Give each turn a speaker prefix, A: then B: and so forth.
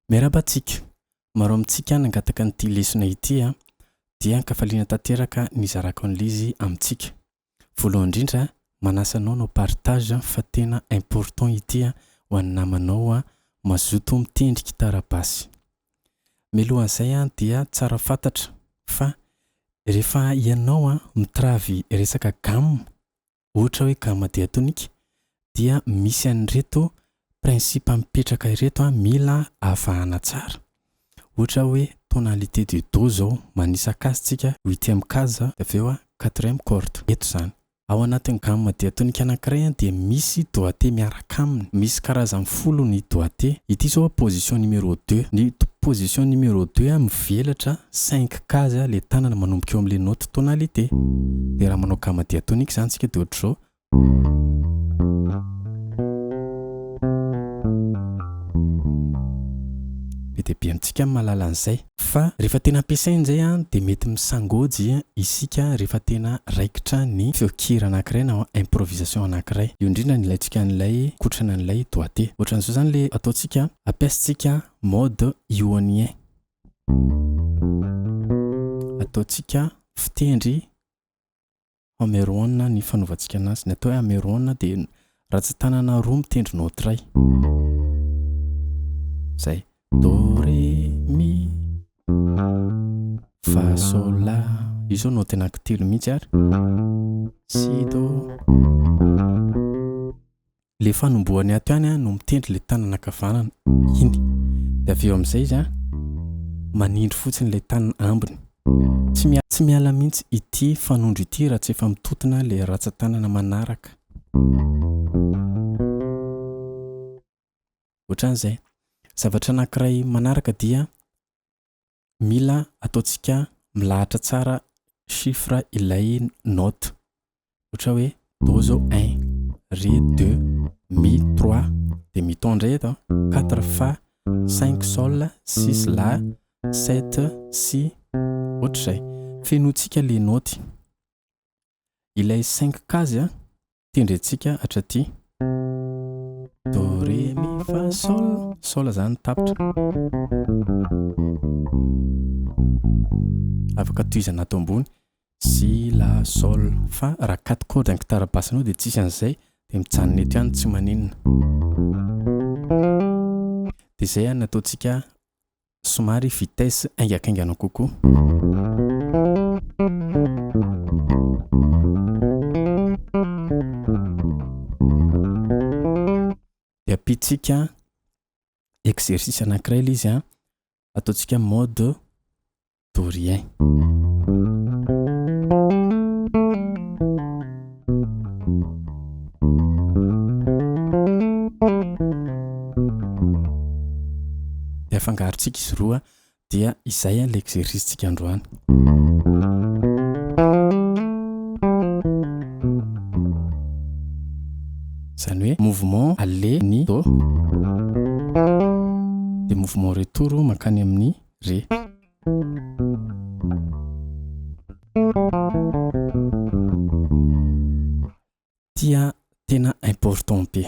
A: Miarahaba antsika! Maro amintsika nangataka an'ity lesona ity a! Dia ankafaliana tanteraka ny izarako an'ilay izy amintsika. Voalohany indrindra, manasa anao hanao partage fa tena important ity ho an'ny namanao mazotoa mitendry gitara basy. Milohan'izay dia tsara fantatra fa rehefa ianao mitravy resaka gamme, ohatra hoe gamme diatonique, dia misy an'ireto principe mipetraka ireto mila avahana tsara. Ohatra hoe tonalité du do izao, manisaka azy tsika, huitième case, avy eo quatrième corde. Eto izany. Ao anatin'ny gamme diatonika anankiray dia misy doigté miaraka aminy. Misy karazany folo ny doigté. Ity izao position numéro deux. Ny position numéro deux mivelatra cinq case ilay tanana manomboka eo amin'ilay note tonalité. Dia raha manao gamme diatonika izany isika dia ohatr'izao. Be dia be amintsika no mahalala an'izay. Fa rehefa tena ampiasaina indray dia mety misangôjy isika rehefa tena raikitra ny feon-kira anankiray na improvisation anankiray. Eo indrindra ny ilaintsika an'ilay kotrana an'ilay doigté. Ohatran'izao izany ilay ataontsika, ampiasaintsika mode ionien. Ataontsika fitendry. Hameroana ny fanaovantsika anazy. Ny atao hoe hameroana dia ratsan-tanana roa mitendry note iray. Izay. Do, ré, mi, fa, sol, la. Io izao note anankitelo mihitsy ary. Si, do. Le fanombohany ato ihany an no mitendry le tanana ankavanana iny de avy eo amizay izy an manindry fotsiny le tanana ambiny. Tsy miala tsy miala mintsy ity fanondro ity raha tsy efa mitontona le ratsatanana manaraka. Ohatran'izay. Zavatra anankiray manaraka dia mila ataontsika milahatra tsara chiffre ilay note ohatra hoe do zao un, re deux, mi trois dia mi ton indray eto an, quatre fa, cinq sol, six la, sept si, ohatr'izay. Fenointsika ilay note. Ilay cinq case tendrentsika hatraty. Do, ré, mi, fa, sol. Sol izany ny tapitra. Afaka tohizana ato ambony. Si, la, sol, fa. Raha quatre cordes an'ny gitara basse anao dia tsisy an'izay. Dia mijanona eto ihany tsy maninona. Dia izay no ataontsika Somary vitesse haingankaingana kokoa. Dia ampidintsika exercice anankiray ilay izy an. Ataontsika mode de rien. Dia afangarontsika izy roa dia izay ilay exercice tsika androany. Izany hoe mouvement aller ny do. Dia mouvement retour mankany amin'ny re. Tia tena important be.